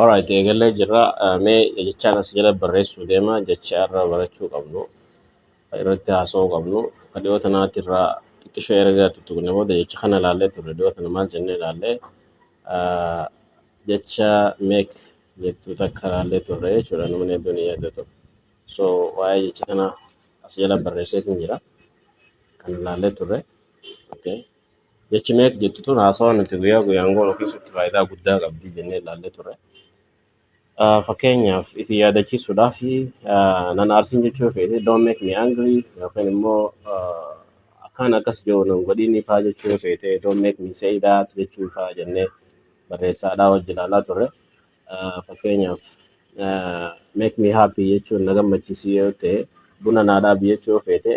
Alright, eegallee jirra. Eh, Mee jechaan as jala barreessuu deema. Jecha irra barachuu qabnu, kan irratti haasa'uu qabnu, kan dhiyoo tanaatti irraa xiqqishoo erga tuttuqne booda jecha kana ilaallee turre. Dhiyoo tana maal jennee ilaallee? Eh, Jecha meek jettu takka ilaallee turre jechuudha. Namni hedduun hin yaadatu. So, waa'ee jecha kanaa as jala barreesseetiin jira. Kan ilaallee turre. Okay. Jechi meek jettu tun haasawaa nuti guyyaa guyyaan goonu keessatti faayidaa guddaa qabdi jennee ilaallee turre. Ah, Fakkeenyaaf isin yaadachiisuudhaaf ah, nan aarsin jechuu keeti don't make me angry yookiin immoo ah, akkaan akkas jiru nan godhiinii faa jechuu keete don't make me say that jechuu faa jennee barreessaadhaa wajji ilaalaa turre. Ah, Fakkeenyaaf ah, make me happy jechuun na gammachiisii yoo ta'e buna naa dhaabi jechuu keete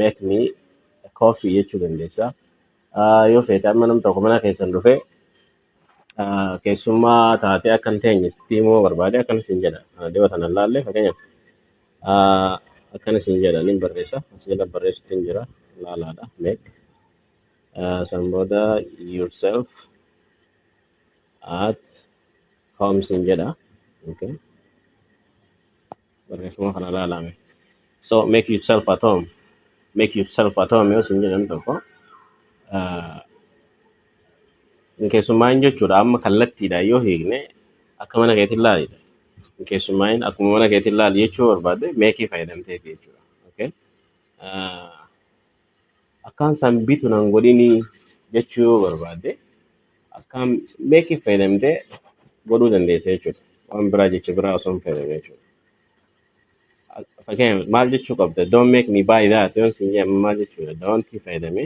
make me coffee jechuu dandeessa. Ah, Yoo feete amma nam tokko mana keessan dhufee ah, keessummaa taatee akka hin teenye sitti himuu barbaade akkana siin jedha. Ah, Dhiyoo sana ilaalle fakkeenyaaf ah, akkana siin jedha nin barreessa asii jala barreessuutti hin jira ilaalaadha make ah, san booda yourself at home siin jedha. Okay. Barreeffama kana ilaalaa mee. So make yourself at home. Make yourself at home yoo isin jedhan tokko ah, keessummaan jechuudha amma kallattiidha yoo hiikne akka mana keetiin laalidha. Keessummaan akkuma mana keetiin laali jechuu barbaade meekii fayyadamteeti jechuudha. Okay? Ah, akkaan san bitu nan godhini jechuu yoo barbaadde akkaan meekiif fayyadamtee godhuu dandeessa jechuudha. Waan biraa jecha biraa osoo hin fayyadamne jechuudha. Ak- Fakkeenyaaf maal jechuu qabda? Don't make me buy that yoon siin jedhe maal jechuudha? Don't fayyadame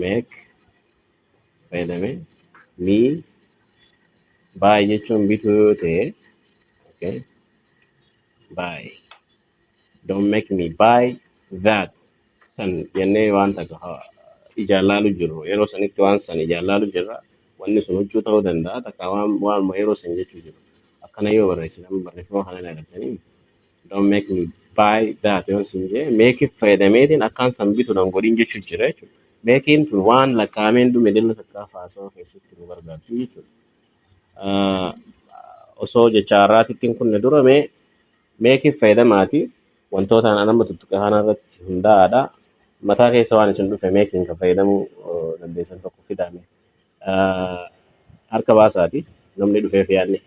make fayyadame me buy jechuun bituu yoo ta'e okay, buy. Don't make me buy that san jennee waan takka ha- ijaan laalu jirru yeroo sanitti waan san ijaan laalu jirra wanni sun huccuu ta'uu danda'a takka waan waanuma yeroo san jechuu jiru akkana yoo barreessine amma barreeffama kana irraa argattanii don't make me buy that yoon sin jee make it fayyadameetiin akkaan san bitu nan godhin jechuu jira jechuudha. Making tun waan lakkaa'ameen dhume dilla takkaa faasoo keessatti nu gargaarti jechuudha. Ah, Osoo jecha har'aatittiin kunne durame Meekif fayyadamaati wantootaan an amma tuttuqe kana irratti hundaa'aadha. Mataa keessa waan isin dhufe meekiin kan fayyadamuu eh, dandeessan tokko fidaame. Ah, Harka baasaati namni dhufeef yaadne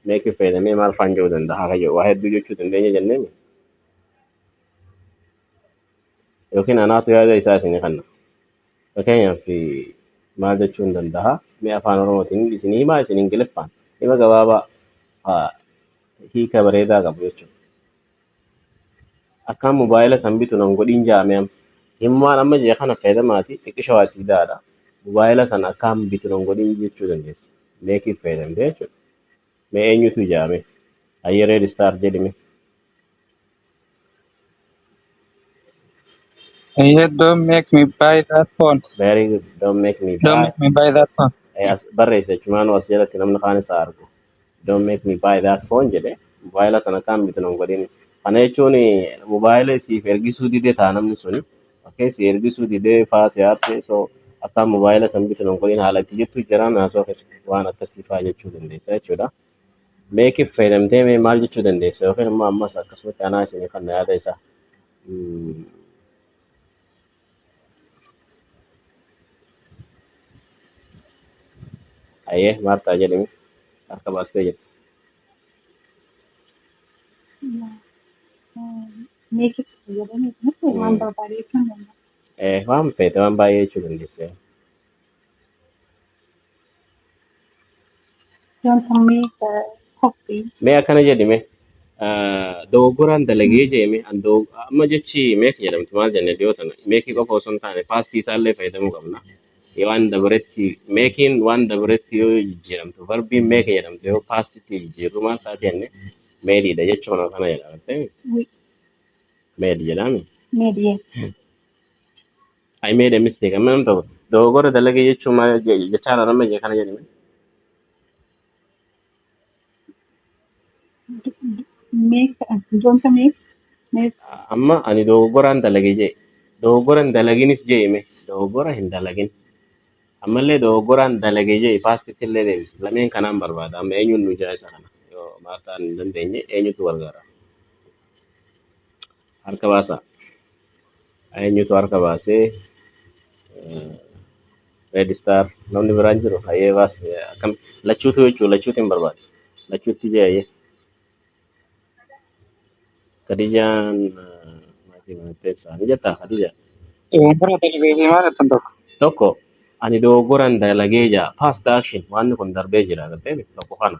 meekif fayyadamee maal faan jedhuu danda'a haa kayyoo waa hedduu jechuu dandeenya jennee mi? yookiin anaatu yaada isaa isinii kanna. Fakkeenyaaf eh, maal jechuun danda'a mee afaan oromootiin isinii himaa isin ingiliffaan hima gabaabaa haa hiika bareedaa qabu jechuudha. Akkaan mobaayila san bitu nan godhiin jaame amma. Himumaan amma jee kana fayyadamaati xiqqisha waa itti fidaadha. Mobaayila san akkaan bitu nan godhiin jechuu dandeessa. Meekiif fayyadamte jechuudha. Mee eenyutu ijaame? Hayyee reed istaar jedhime. Eh, yeah, don't make me buy that phone. very good don't make me Don't buy make me buy that phone. Eh, as barreessa jechumaan as jalatti namni kaan isaa argu don't make me buy that phone jedhe mobaayila sana kaan bitu nan godhin kana jechuun mobaayila siif ergisuu dide taa namni suni fakkee si ergisuu dide faa si aarse so akkaan mobaayila san bitu nan godhin haala itti jettu jiraan haasoo keessa waan akkasii faa jechuu dandeessa jechuudha. Meekif fayyadamtee mee maal jechuu dandeessa yookiin immoo ammas akkasumatti anaa isinii kanna yaada isaa. Ayyee Maartaa jedhimi harka baastee jirti. Meekif fayyadamee kunis waan barbaade jechuun danda'a. Waan feete waan baay'ee jechuu dandeessa. mee akkana jedhi mee ah, dogoggoraan dalagee jee mee an dog- amma jechi meek jedhamti maal jenne dhiyoo tana meekii qofa osoo hin taane paastii isaallee fayyadamuu qabna Yoo waan dabaretti meekiin waan dabaretti yoo jijjiiramtu varbiin meek jedhamtu yoo paastitti jijjiirru maal taate jenne meediidha jecha kana kana jedhamte meedi jedhame I made a mistake. Amma namni tokko dogoggora dalage jechuun maal je- jechaa dha nama je kana jedhame. Make wanta make make Amma ani dogoggoraan dalage jee. Dogoggora hin dalaginis jee hime. Dogoggora hin dalagin. Ammallee dogoggoraan dalage jee paastitti illee deemi. Lameen kanaan barbaada. Amma eenyuun nu jira isa kana. Yoo maartaan hin dandeenye eenyutu gargaara. Harka baasaa. Eenyutu harka baasee? Red star namni biraan jiru hayyee baas akkam lachuutu jechuu lachuutu hin barbaadu lachuutti jee hayyee Khadijaan maatii maatteessaa ni jettaa Khadijaan Bara darbee fi maal attan tokko. tokko ani dogoggoran dalagee jaa past action waan kun darbee jira galtee tokko kana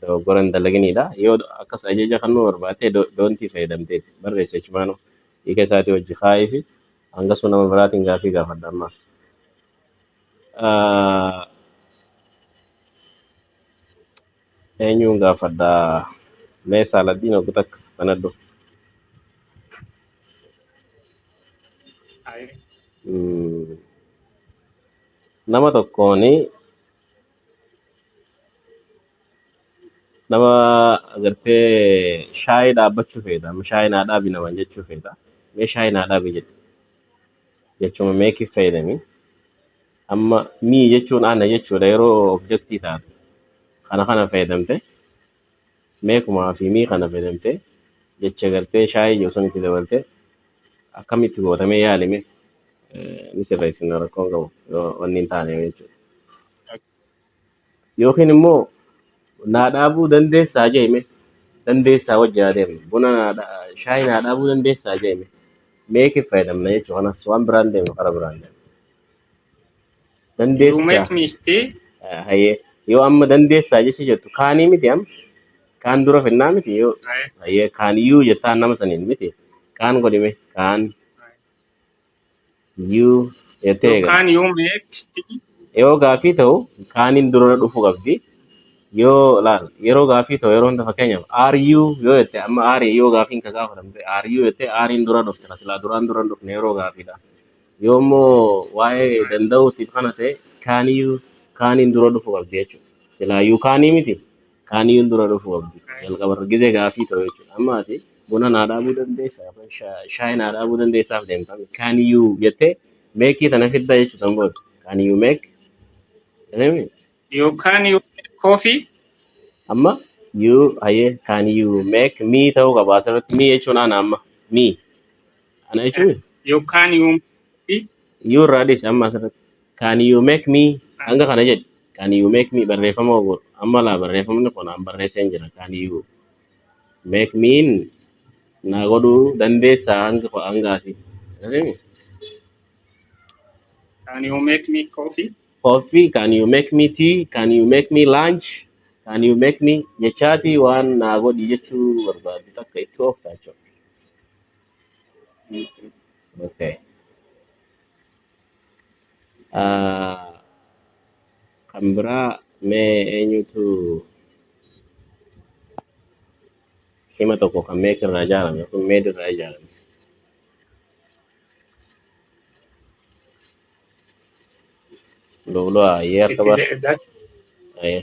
dogoggora hin dalaginiidha. Yoo akkas ajaja kannuu barbaattee do- doontii fayyadamteetti barreessi achumaanuu hiika isaatii wajji kaa'iifi hangasuu nama biraatiin gaafii gaafadha ammaas. Ah, Eenyuun gaafadha? Mee saaladdiin oggu takka banadhu. Mm, Nama tokkoon nama agartee shaayii dhaabbachuu feeta amma shaayii naa dhaabi naman jechuu feeta mee shaayii naa dhaabi jedhe jechuma meekiif fayyadami amma mii jechuun ana jechuudha yeroo objektii taatu kana kana fayyadamte Mee kuma hafii mii kana fedemte jecha garte shaye ijoo saniti dabalte akamiti gota mee yali mee ni sirresina rakko hin qabu yo wanni hin tane jechu yookiin immoo naa dhaabuu dandeessaa jeeme dandeessaa wajji haa deemnu buna naa dha- shaayii naa dhaabuu dandeessaa jeeme meekiif fayyadamna jechuu kanas waan biraan deemnu kara biraan deemna dandeessaa Ruumeet miisti Ah, hayyee yoo amma dandeessaa jecha jettu kaanii miti amma kaan dura finnaa miti yoo hayyee kaan yuu jettaan nama saniin miti kaan godhime kaan yuu jettee eegalte yookaan yuu meeksti yoo gaafii ta'u kaaniin dura dhufuu qabdi yoo laal yeroo gaafii ta'u yeroo hunda fakkeenyaaf are you yoo jette amma are yoo gaafiin ka gaafatamte are you jettee ariin dura dhufte ka silaa duraan dura hin dhufne yeroo gaafiidha Yoo immoo waa'ee danda'uutiif kana ta'e kaaniyyuu kaaniin dura dhufu qabdi jechuudha. Silaayyuu kaanii miti kaaniyyuun dura dhufu qabdi jalqabarra gizee gaafii ta'u jechuudha. Amma ati buna naa dhaabuu dandeessaa yookaan shaa- shaayii naa dhaabuu dandeessaaf deemta kaaniyyuu jettee meekii tana fidda jechuudha san booda kaaniyyuu meek jedhame You can you make coffee? amma yuu hayyee kaaniyyuu meek mii ta'uu qaba asirratti mii jechuun ana amma mii Kana jechuun You can you fi you irraa dhis amma asirratti. Can you make me kan hanga kana jedhi. Can you make me barreeffama ogoodha. Amma laa barreeffamni kun an barreesseen jira. Can you make me naa godhuu dandeessaa hanga hanga asii. Akkasii can you make me coffee? Coffee, can you make me tea? Can you make me lunch? Can you make me jechaati waan naa godhi jechuu barbaadu takka itti ooftaa jechuudha. Okay. Ah, kan biraa mee eenyutu hima tokko kan meek irraa ijaarame kun meed irraa ijaarame. Looloo ayyee akka Itti baas. deebi'aa. Ayyee.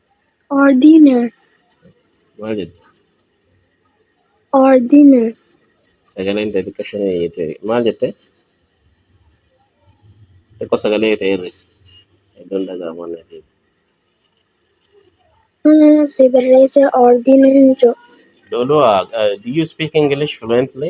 Ordiner. Maal jedhu? Ordiner. Sagaleen ta'e xiqqoo isheen eeyyate. Maal jette? Xiqqoo sagalee ta'e hir'isi. Iddoon dhaga'amu waan natti hin. Mana si barreesse ordiner jedhu. Lolua, uh, do you speak English fluently?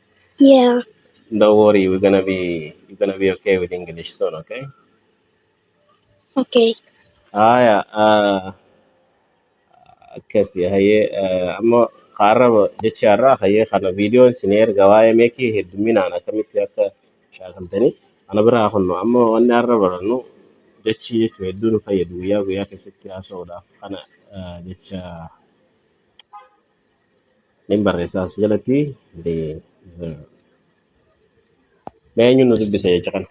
Yeah. Don't worry, we're gonna be you're gonna be okay with English soon, okay? Okay. Haya, uh, akkasi haye uh, amma qaarraba jecha irraa haye kana viidiyoon isin erga waa'ee meekii hedduminaan akkamitti akka shaakaltani ana biraa kunno amma wanni har'a barannu jechi jechuun hedduu nu fayyadu guyyaa guyyaa keessatti haasa'uudhaaf kana uh, jecha Nin barreessa as jalatti deserve. Mee eenyuun nu dubbisa jecha kana?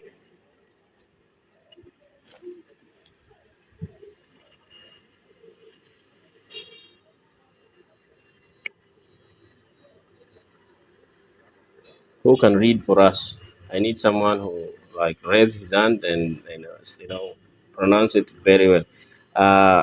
Who can read for us? I need someone who like raise his hand and, and uh, you know pronounce it very well. Uh,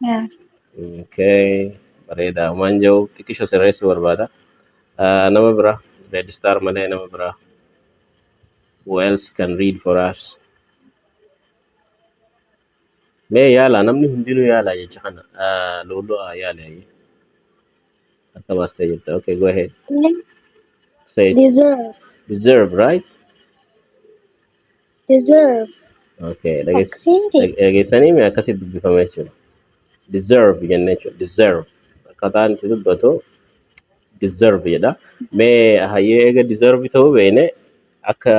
Yeah. Okay. Bareeda. Waan jiru xiqqisho sirreessuu barbaada. Ah, Nama bira. Red star malee nama bira. Who else can read for us? Mee yaala namni hundinuu yaala jecha kana. Ah, Looloo ah, yaale ayyee. Akka baastee jirta. Okay, go ahead. They Say it. deserve. Deserve, right? Deserve. Okay, dhageess- Akkasii miti. dhage- dhageessanii mee akkasii dubbifama jechuudha. Deserve jennee jechuudha. Deserve. Akkataan itti dubbatu deserve jedha. Mee hayyee eega deserve ta'uu beekne akka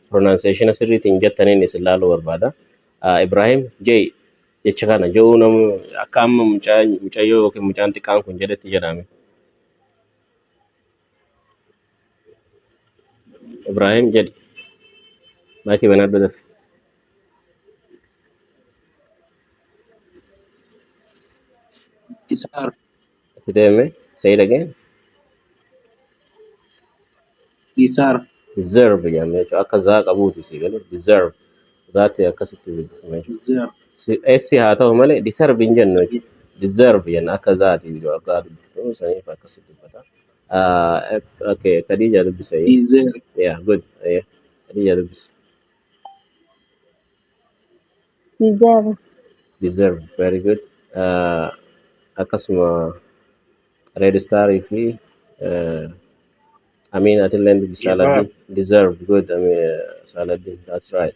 pronunciation sirriitiin jettaniin isin ilaaluu barbaada. Ah, Ibrahim J jecha kana je'uu namu akka amma mucaa- mucayyoo yookiin mucaan xiqqaan kun jedhetti jedhame. Ibrahim jedhi. Maayikii banaa dura dafi. Isaar. Itti deeme. Say it again. Isaar. Deserve jedhamee jechuudha. Akka zaa qabuuti si galu. Deserve. zaatti akkasitti dubbifame Deserve. Si- essi haa ta'u malee deserve hin jennu jechuudha. Deserve jenna akka zaati jiru akka dubbifnu saniif akkasitti dubbata. Ah, ep- Okay, Khadija dubbisa. Deserve. Yeah, good. Yeah. Khadija dubbisa. Deserve. Deserve, very good. Ah, Akkasuma Red Star fi eh, Amiin atilleen dubbi Yee baa. Saaladdiin deserve good Amiin Saaladdiin that's right.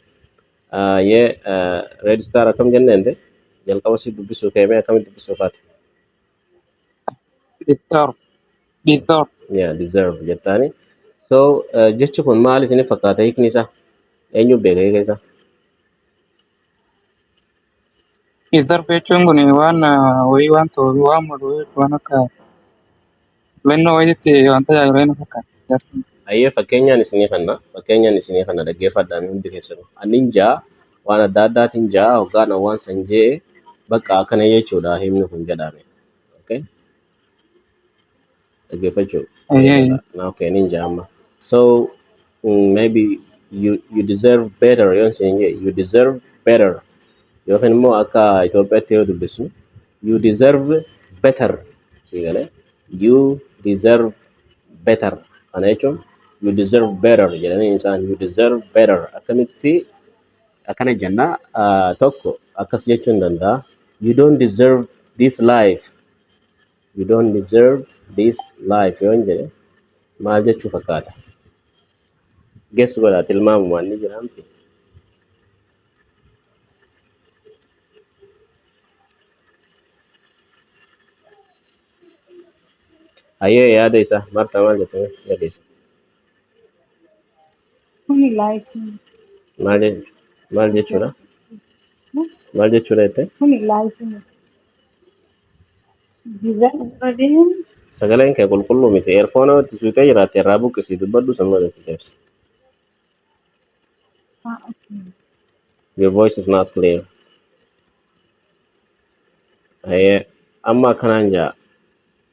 Ah, Yee ah, Red Star akkam jenneen de jalqaba si dubbisuu kee mee akkamitti dubbisuu kaate? Deserve, deserve. Yeah, deserve jettaani. So ah, jechi kun maal isiniif fakkaata hiikni isaa? Eenyu beeka hiika isaa? Iddoo jechuun kun waan wayii waan ta'uuf waan malu waan akka filannoo wayiitti waan tajaajilu wayii na fakkaata. Ayyee fakkeenyaan isinii kanna fakkeenyaan isinii kanna dhaggeeffadhaa mee hundi keessanuu annin ja'a waan adda addaatiin ja'a hoggaan waan san je'e bakka akkana jechuudha himni kun jedhaame. Okay? dhaggeeffachuu Eeyyee, eeyyee. na okay nin jaa amma so mm, maybe you, you deserve better yoon siin jedhe you deserve better yookiin immoo akka Itoophiyaatti yoo dubbisnu you deserve better sii galee you deserve better kana jechuun you deserve better jedhanii isaan you deserve better akkamitti akkana jenna ah, tokko akkas jechuun danda'a you don't deserve this life you don't deserve this life yoon jedhe maal jechuu fakkaata? Guess godhaa tilmaamumaan ni jira miti. Hayyee yaada isaa Martaa maal jette yaada isaa? Kuni laayikii. Maal je- maal jechuudha? Maal jechuudha jettee? Kuni laayikii. Dizaayinii barbaadeen Sagaleen kee qulqulluu miti. Eerfoona itti suutee jiraatte irraa buqqisii dubbadhu sun malee itti deebisa. haa akkuma. Your voice is not clear. Hayee amma akkanaan jaa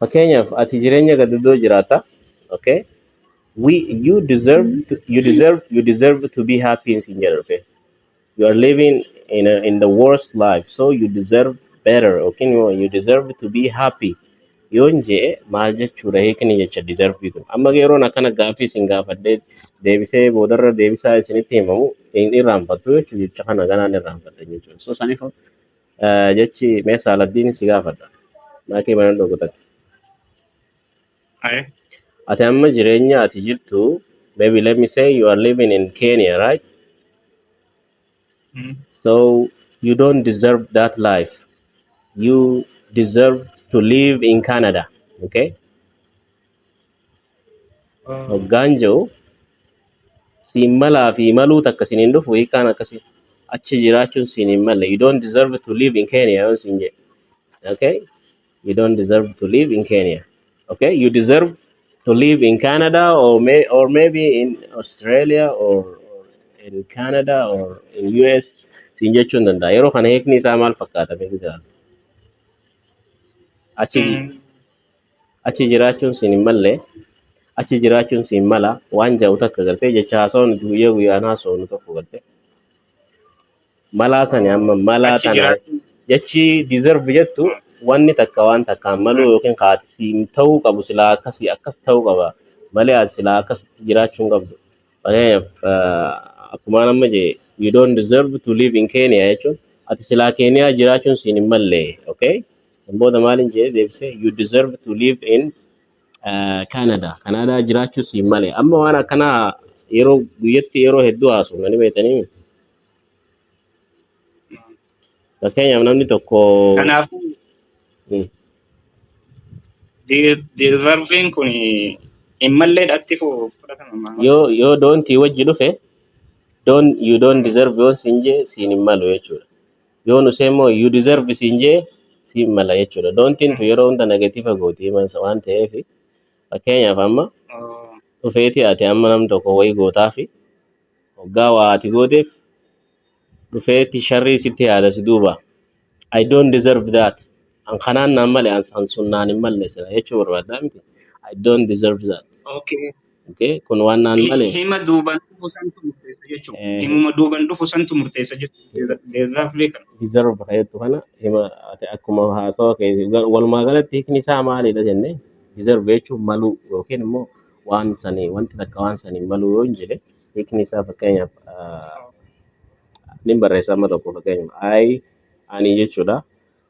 Fakkeenyaaf ati jireenya gadadoo jiraata. Okay? We, you deserve to, you deserve you deserve to be happy in sin jedha okay? You are living in a, in the worst life so you deserve better okay? You deserve to be happy. Yoon jee maal jechuudha hiikni jecha deserve kun. Amma yeroon akkana gaaffii isin gaafadhee deebisee boodarra deebisaa isinitti himamu hin irraanfattu jechuudha jecha kana ganaan irraanfatta jechuudha. So saniif Eh, jechi mee saaladdiin si gaafadha maakii mana dhokutatti Aye. ati amma jireenya ati jirtu maybe let me say you are living in Kenya right Mm. so you don't deserve that life you deserve to live in Canada okay hoggaan je'u siin malaa fi maluu takka siin hin dhufu hiikkaan akkasi achi jiraachuun siin hin malle you don't deserve to live in Kenya yoon siin jedhe okay you don't deserve to live in Kenya okay you deserve to live in Canada or may or maybe in Australia or, or in Canada or in US siin jechuun danda'a yeroo kana hiikni isaa maal fakkaata beeku jiraatu achi Mm. Achi jiraachuun siin hin malle, achi jiraachuun siin mala waan ja'u takka gartee jecha haasawa nuti guyyaa guyyaan haasofnu tokko gartee. Malaa sani amma malaa Achi tana jiraachuun jechi deserve jettu wanni takka waan takkaan maluu yookiin ka ati siin ta'uu qabu silaa akkasii akkas ta'uu qaba malee ati silaa akkasitti jiraachuu hin qabdu. Fakkeenyaaf eh, akkumaan amma jee you don't deserve to live in Kenya jechuun ati silaa Keeniyaa jiraachuun siin hin malle okay? San booda maaliin jedhee deebise you deserve to live in uh, Canada. Canada jiraachuu siin malee. Amma waan akkanaa yeroo guyyatti yeroo hedduu haasofna ni beektanii. Fakkeenyaaf namni tokko Kanaafuu mm, di- deserviin kun hin mallee dhatti fuuf fudhatama maamatti. yoo yoo doontii wajji dhufe don you don't deserve yoon siin jee siin hin malu jechuudha. yoo nu see immoo you deserve siin jee siin mala jechuudha doontiin tu yeroo hunda negatiiva gooti himansa waan ta'eef fakkeenyaaf amma dhufeeti ati amma nam tokko wayii gootaa fi hoggaa waa ati gooteef dhufeeti sharrii sitti yaada si duuba I don't deserve that an kanaan naan male an san sun naan hin malle sila jechuu barbaaddaa miti I don't deserve that Okay. Okay? Kun waan naan Hi- malee Hima duuban dhufu santu murteessa jechuudha. eh, Himuma duuban dhufu santu murteessa jechuudha. Deezaaflee kana. deserve ta'etu kana hima ati akkuma haasawa kee gar- walumaa galatti hiikni isaa maalidha jennee deserve jechuun maluu yookiin immoo waan sanii wanti takka waan sanii maluu yoo hin jedhe hiikni isaa fakkeenyaaf ah, nin barreessa amma tokko fakkeenyaaf I ani jechuudha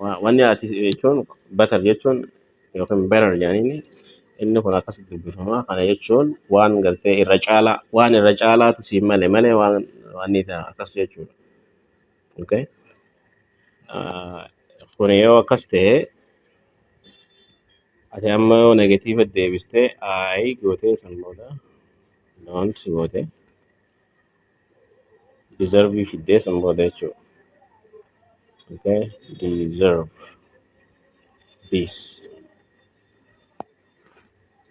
Wa- Wanni ati jechuun batar jechuun yookiin berar jedhaniini inni kun akkas dubbifama. Kana jechuun waan gartee irra caalaa waan irra caalaatu siin male malee waan waan isa akkas jechuudha. Okay? Ah, Kun yoo akkas ta'e ati amma yoo negatiiva deebistee I gootee san booda don't goote. deserve fiddee san booda jechuudha. Okay, deserve this.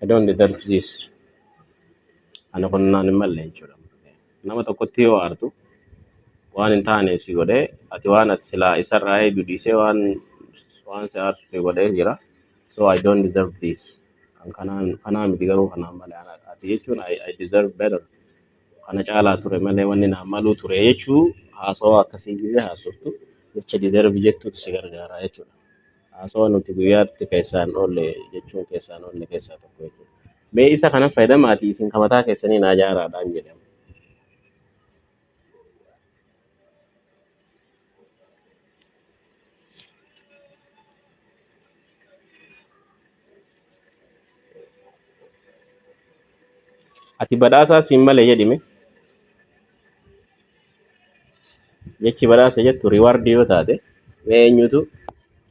I don't deserve this. Ani kun naan hin malle jechuudha. Nama tokkotti yoo aartu waan hin taane si godhee ati waan ati silaa isarraa eegu dhiisee waan waan si aarsu si godhee jira. So I don't deserve this. Kan kanaan kanaa miti garuu kanaan malee anaadha. Ati jechuun I, I deserve better. kana caalaa ture malee wanni naan maluu ture jechuu haasawa akkasii gizee haasoftu jecha deserve jettuutu si gargaara jechuudha. Haasawa nuti guyyaatti keessaan oolle jechuun keessaan oolle keessaa tokko jechuudha. Mee isa kana fayyadamaati isin ka mataa keessanii naa jaaraadhaan jedhama. Ati badhaasaa siin male jedhime. Jechi badhaasa jettu riwaardii yoo taate mee eenyutu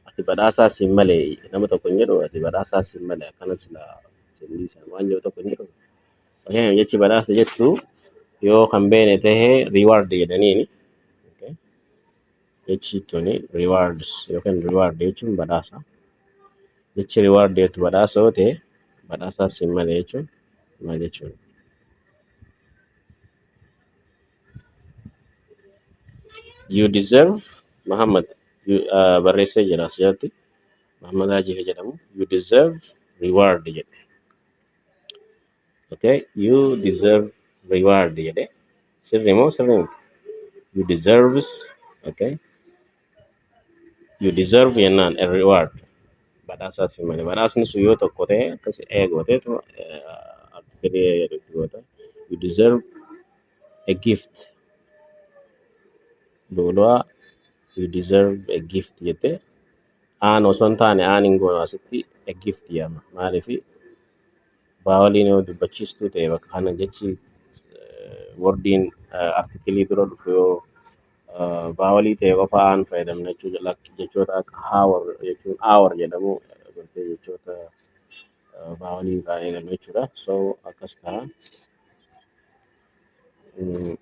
ati badhaasaa siin male nama tokko hin jedhu ati badhaasaa siin male akkana sila siin dhiisan waan jedhu tokko hin jedhu. Fakkeenyaaf jechi badhaasa jettu yoo kan beene tahe reward jedhaniini. Okay. Jechi tuni rewards yookiin reward jechuun badhaasa. Jechi reward jettu badhaasa yoo ta'e badhaasaa siin male jechuun maal jechuudha? You deserve Muhammad you, uh, barreessee jira asirratti. Muhammad Hajiif jedhamu you deserve reward jedhe. okay you deserve reward jedhe sirri moo sirri miti you deserves okay you deserve jennaan a reward badhaasaa si malee badhaasni sun yoo tokko ta'e akkas eegooteetu artikelii jedhutti goota you deserve a gift luulaa you deserve a gift jette Aan osoo hin taane aan hin goonu asitti a gift jedhama. Maaliif baawaliin yoo dubbachiistuu ta'e bakka kana jechi eh, wordiin eh, artikilii dura dhufu yoo eh, baawalii ta'e qofa aan fayyadamna jechuudha. Lak- Jechoota akka hour jechuun hour jedhamu eh, bartee jechoota eh, baawaliin irraa eegalu jechuudha. So akkas ta'a. Mm.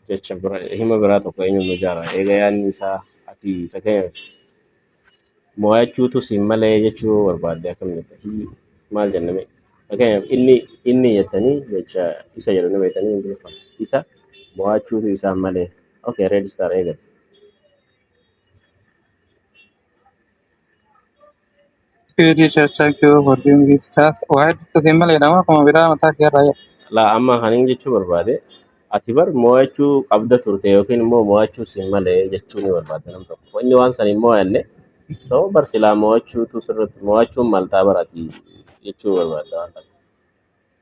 jecha bira hima biraa tokko eenyu nu jaara eega yaanni isaa ati fakkeenyaaf mo'achuutu siin malee jechuu barbaadde akkamitti hii maal jenname fakkeenyaaf inni inni jettanii jecha isa jedhu ni beektanii hin jirfan isa mo'achuutu isaan malee okay red star eegale It is a thank you for doing it stuff. Waa hedduutu hin malee nama akkuma biraa mataa kee irraa jedha. laa amma kan hin jechuu barbaade ati bar mo'achuu qabda turte yookiin immoo mo'achuu siin malee jechuu ni barbaada nam tokko inni waan san hin mo'anne so bar silaa mo'achuutu sirratti mo'achuun maltaa bar ati jechuu barbaada waan kana.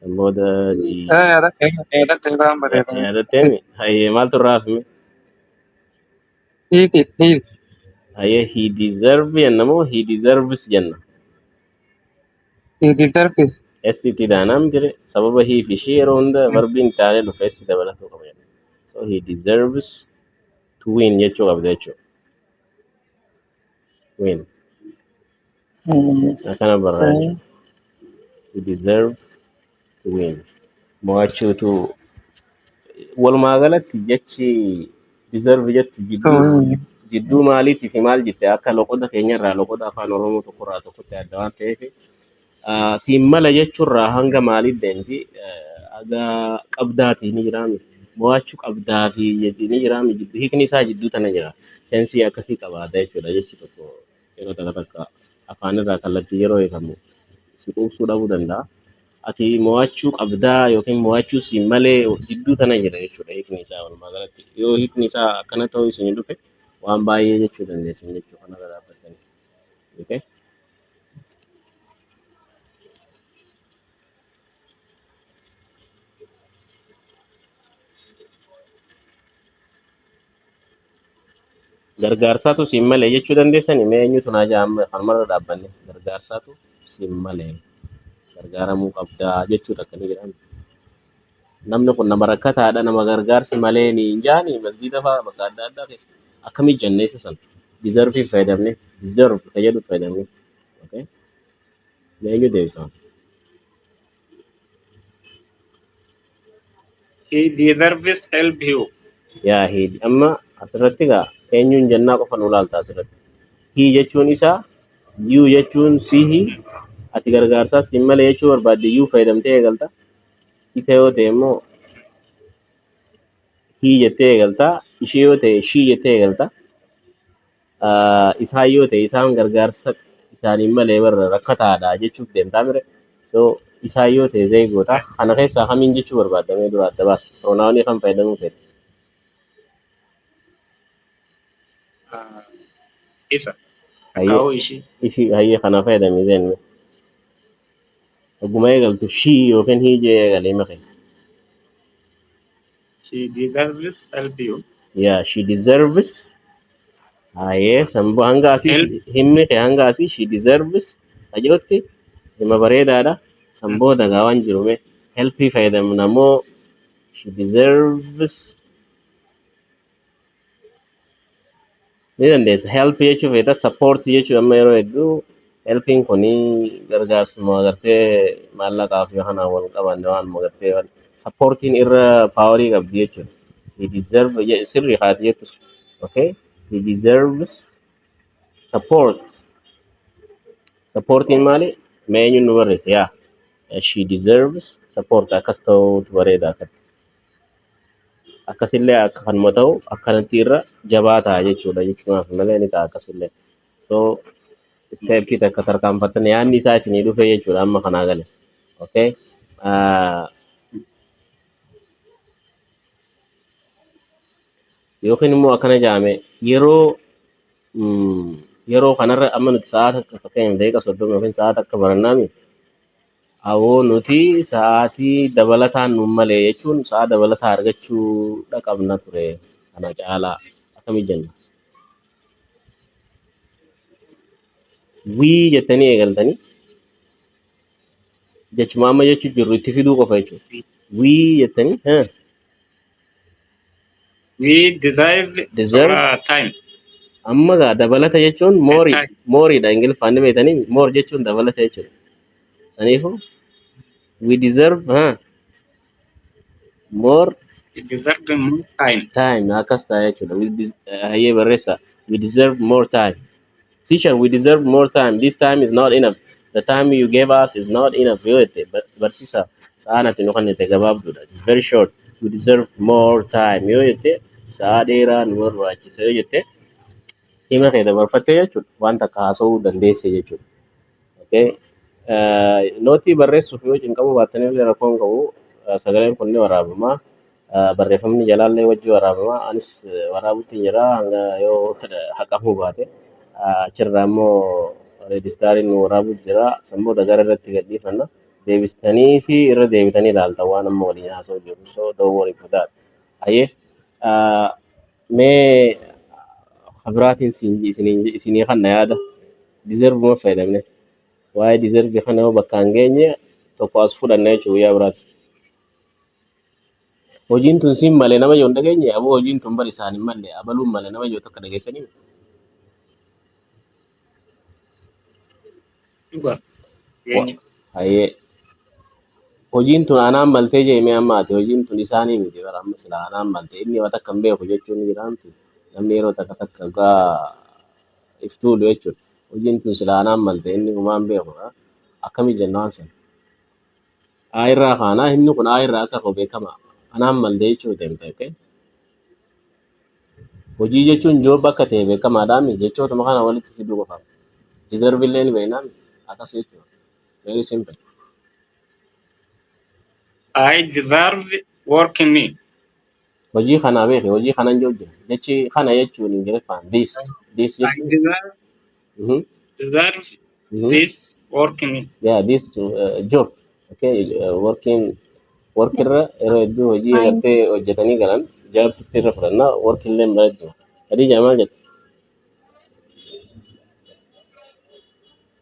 Kan booda Eh, jii ada, eh, ada tentang berita ni. yaadattee hayyee maaltu irraa hafime? Hit, hit, hit. Hayyee he deserve jenna moo he deserves jenna? Hit di terfis. S itti daanaa miti ree sababa he fi ishee yeroo hunda varbiin taalee dhufa S dabalatuu qaba jenna. So he deserves to win jechuu qabda jechuudha. win akkana barraa jechuudha. to deserve to win mo'achuutu walumaa galatti jechi deserve jettu jidduu jidduu maaliitii fi maal jette akka loqoda keenya irraa loqoda afaan oromoo tokko irraa tokkotti adda waan ta'eef Ah, siin mala jechuurraa hanga maaliif deemti? Eh, Aga qabdaatii ni jiraami. Mo'achuu qabdaa fi jechi ni jiraami. Jiddu hiikni isaa jidduu tana jira. Seensii akkasii qabaata jechuudha. Jechi tokko yeroo takka takka afaan irraa kallattii yeroo hiikamu si quubsuu dhabuu danda'a. Ati mo'achuu qabdaa yookiin mo'achuu siin malee jidduu tana jira jechuudha hiikni isaa walumaa galatti. Yoo hiikni isaa akkana ta'uu isin dhufe waan baay'ee jechuu dandeessan jechuudha kanarra dhaabbattanii. Okay? Gargaarsaatu siin malee jechuu dandeessani mee eenyutu naa jaa amma kanumarra dhaabbanne gargaarsaatu siin malee gargaaramuu qabdaa jechuu takka ni jedhama. Namni kun nama rakkataadha nama gargaarsi malee niin jaani masgiida faa bakka adda addaa keessa akkamii jannee isa san deserve fayyadamne deserve ka jedhu fayyadamne okay mee eenyu deebisa He deserves help you. yaa hii amma asirratti gaa eenyuun jannaa qofa nu laalta asirratti hii jechuun isaa yuu jechuun sihi ati gargaarsaa siin malee jechuu barbaadde yuu fayyadamtee eegalta Isa yoo ta'e immoo hii jettee eegalta. Ishee yoo ta'e shii jettee eegalta. Ah, Isaan yoo ta'e isaan gargaarsa isaaniin malee barra rakkataadha jechuuf deemtaa mire. So isaan yoo ta'e zee goota. Kana keessaa kamiin jechuu barbaadamee dura adda baasa. Piroonaawunii kan fayyadamuu feete. Ah, Isa. Hayyee Kaa'uu ishii. ishii hayyee kana fayyadamee zeen. Oguma eegaltu shii yookiin hii jee eegale hima kee. She deserves help you. Yeah, she deserves. Haayee sanbo hanga asii Help. himmi kee hanga asii she deserves. Ajootti hima bareedaadha. Sanboo dagaa waan jiru mee helpii fayyadamna moo she deserves. ni dandeessa help jechuu feeta support jechuu amma yeroo hedduu helpiin kun gargaarsuma agartee maallaqaaf yoo kanaan wal qabanne waan agartee waan supportiin irra paawarii qabdi jechuudha he deserve je- sirri haati jettus okay he deserves support supportiin maali mee eenyuun nu barreessa yaa she deserves support akkas ta'uutu bareeda akka akkasillee akka kanuma ta'u akkanatti irra jabaa ta'a jechuudha jechuunaaf malee ni ta'a akkasillee so isteeppii takka tarkaanfattan yaanni isaa isinii dhufee jechuudha amma kanaa gale okay Ah, yookiin immoo akkana jaame yeroo mm, yeroo kanarra amma nuti sa'aa takka fakkeenyaaf daqiiqa soddoma yookiin sa'aa takka barannaami Awoo nuti sa'aatii dabalataan nuun malee jechuun sa'aa dabalataa argachuu dha qabna ture kana caalaa akkami jenna wii jettanii eegaltanii jechuma amma jechu jirru itti fiduu qofa jechuudha wii jettanii eh, We deserve deserve our time amma gaa dabalata jechuun and moorii time. mooriidha ingiliffaan ni beektanii moor jechuun dabalata jechuudha saniifu we deserve ha more We deserve more time. time akkas ta'a jechuudha we des- eh, hayyee barreessaa we deserve more time Teacher we deserve more time this time is not enough the time you gave us is not enough yoo jette ba- barsiisa sa'aan ati nu kennite gabaabduudha it is very short we deserve more time yoo jette sa'aa dheeraa nu barbaachisa yoo jette hima kee dabarfattee jechuudha waan takka haasa'uu dandeesse jechuudha okay Eh, nootii barreessuuf yoo cinqamuu baattan illee rakkoo hin qabu Eh, sagaleen kun ni waraabama Barreeffamni jalaallee wajji waraabama. Anis waraabutti jira hanga yoo haqamuu baate. Achirraa immoo reejistaariin nu waraabuu jira. San booda gara irratti gadhiifanna. Deebistanii fi irra deebitanii ilaaltan waan amma waliin haasoo jiru. So don't worry for that. Hayyee mee kabiraatiin isinii kanna yaada. Deserve ma fayyadamne. Waa'ee deserve kana yoo bakkaan geenye tokko as fudhanna jechuudha guyyaa biraati. Hojiin tun siin malee nama yoo hin dhageenye aboo hojiin tun bar isaan hin malle abaluun malee nama yoo tokko dhageessanii dhuga wa- jireenyi hayyee hojiin tun anaan maltee jeemee amma ati hojiin tun isaanii miti bara amma sila anaan malte inni yoo takka hin beeku jechuun ni jiraamti namni yeroo takka takka gaa iftuulu jechuudha hojiin tun sila anaan malte inni humaan beeku akkami jennaan sana A irraa kaanaa himni kun A irraa akka ka'u beekamaa anaan malde jechuu deemte okay? hojii jechuun job akka ta'e beekamaadhaami jechootuma kana walitti fiduu qofaaf deserve illee ni beeknaami akkas jechuudha very simple I deserve work me. Hojii kanaa beeke hojii kanan yoo jira. Jechi kana jechuun Ingiliffaan this this I jechuun. deserve, Mhm, deserve mhm. this work ni. Yeah, this uh, job. Okay, uh, working work irra yeroo hedduu hojii I agartee hojjetanii galan job irra fudhannaa work illee mala jira. Khadija maal jette?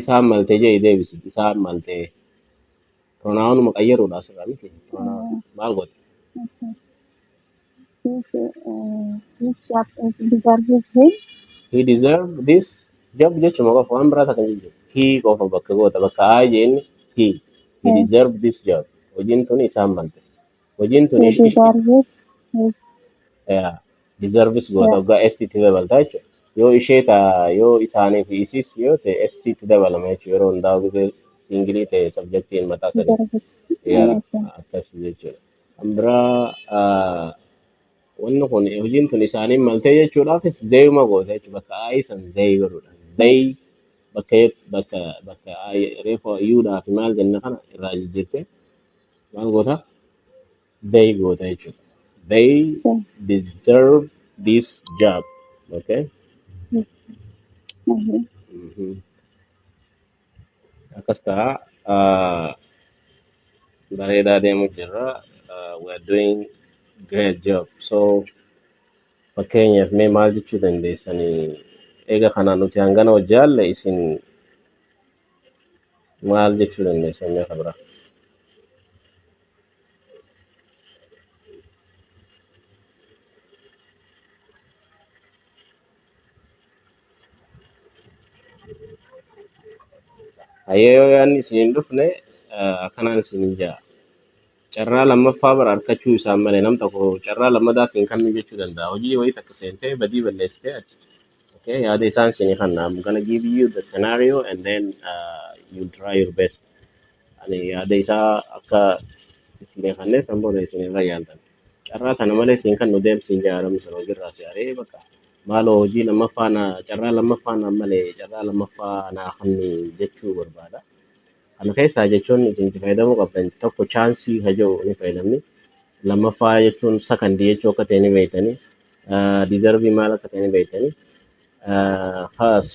Isaan malte jedhi deebisi. Isaan malte. Pronaawunuma qayyaruudha asirraa miti. Pronaawun maal goota? He deserve this job jechuma qofa waan biraa takka hin jiru. He qofa bakka goota bakka aa jeenni he. He deserve this job. Hojiin tuni isaan malte. Hojiin tuni ish- ish- yaa. deserves goota Yeah. oggaa S itti dabalta jechuudha. Yoo ishee ta'a yoo isaanii fi isis yoo ta'e S itti dabalama jechuudha. Yeroo hundaa'u gisee singilii ta'e sabjektiin mataa sadii. Deserves. Yaa Yes. akkas jechuudha. Kan biraa ah, wanni kun hojiin tun isaaniin maltee jechuudhaafis zeeyuma goota jechuudha. Bakka aayii san zeey godhuudha. Zeey bakka bakka bakka aayii reefuu yuudhaa fi maal jenna kana irraa jijjiirtee maal goota? They go to each other. They They- deserve this job. Okay? Mhm. Mhm. Mm-hmm. Akkas ta'a. Uh, bareedaa deemu jirra. Uh, we are doing great job. So fakkeenyaaf mee maal jechuu dandeessanii eega kana nuti hangana hojjaalle isin maal jechuu dandeessa inni akka biraa? Hayyee yoo yaadni isin hin dhufne eh, akkanaan isin hin ja'a. Carraa lammaffaa bara argachuu isaan malee nam tokko carraa lammadaa isin kennu jechuu danda'a. Hojii wayii takka seentee badii balleessitee ati Okay, yeah, they sense in hand. I'm gonna give you the scenario and then uh, you try your best. And yeah, they saw akka isin hanne sambo da isin ra yalta. Carra kana male sin kan nudem sin ja aram sano girra si are baka. Malo hoji lama fa na carra lama fa na male carra lama fa na hanni jechu barbada. Kana kesa jechun isin ti faida mo kapten tokko chance hajo ni faida ni. Lama fa jechun second jechu ka teni veitani. Deserve maal akka ta'e ni beektani. Kaas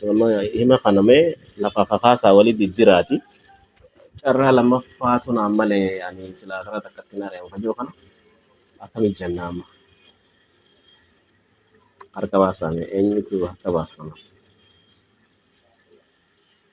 hima kana mee lafa kakaasaa walii diddiraati. Carraa lammaffaatu naan malee ani silaa karaa takkatti hin ari'amu kajoo kana akkamitti jenna amma harka baasaa mee eenyutu harka baasa kana.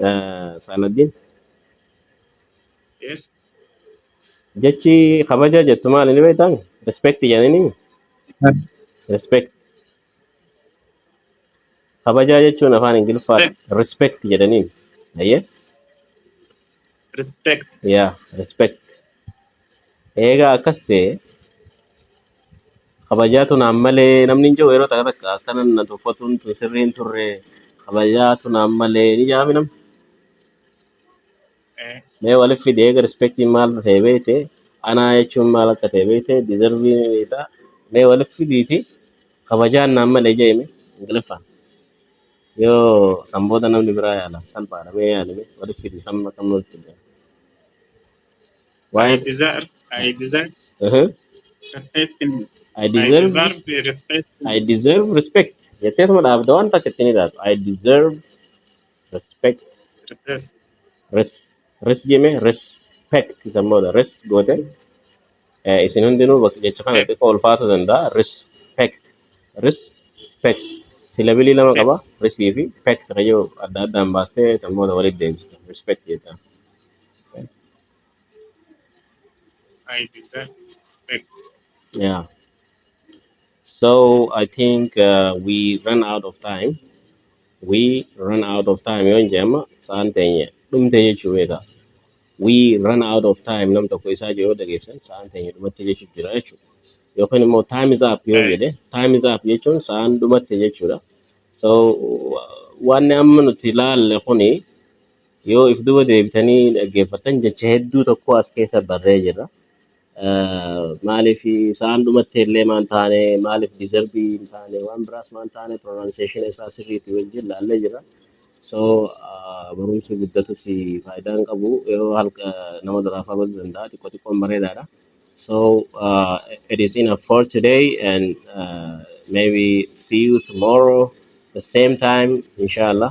Eh, Saaladdin Yes. jechi kabaja jettu maal inni beektan? Respect jedhanii respect. Kabajaa jechuun afaan Ingiliffaan Respect. respect jedhaniin. Ayyee? Respect. Yaa, respect. Eegaa akkas ta'e kabajaatu naan malee namni hin jiru yeroo takka takka akkana na tuffatuun tun sirrii hin turre kabajaatu naan malee ni jedhaami namni. mee walif fidi eega respectiin maal ta'e beekte anaa jechuun maal akka ta'e beekte deservii ni beekta mee walif fidiiti kabajaan naan malee jeeme ingiliffaan yoo san booda namni biraa yaala salphaadha mee yaali mee walif fidi kam kam walif fidi I waa'ee deserve, I deserve uh-huh. respect. I I deserve deserve respect. I deserve respect jetteetuma dhaabda waan takka ittiin ilaaltu I deserve Respect. Res. Res. Res jeme respect isa booda res goote eh, isin hundinuu bakka jecha kana Respect. xiqqoo ulfaatu danda'a. Respect. Respect. Silabilii lama qaba. Resii fi pect kayyoo adda addaan baastee isa booda walitti deebista. Respect jecha. I deserve respect. Yeah. So I think uh, we run out of time. We run out of time. Yon jema saan tenye. Dum tenye chubeka. We run out of time. Nam toko isa jo yoda gesen saan tenye dum tenye chubira echu. Yokan mo time is up yon Right. jede. Time is up yechun saan dum tenye chura. So waan amma nuti ilaalle kuni yoo if duba deebitanii dhaggeeffatan jecha hedduu tokko as keessa barree jira. Maaliif isaan dhumatti illee maan taane maaliif deserbii hin taane waan biraas maan taane pronunciation isaa sirriitti wajjin laallee jira. So ah, barumsi guddatus faayidaa hin qabu yeroo halka nama duraafaa godhu danda'a xiqqoo xiqqoon bareedaadha. So uh, it is enough for today and uh, maybe see you tomorrow the same time inshallah.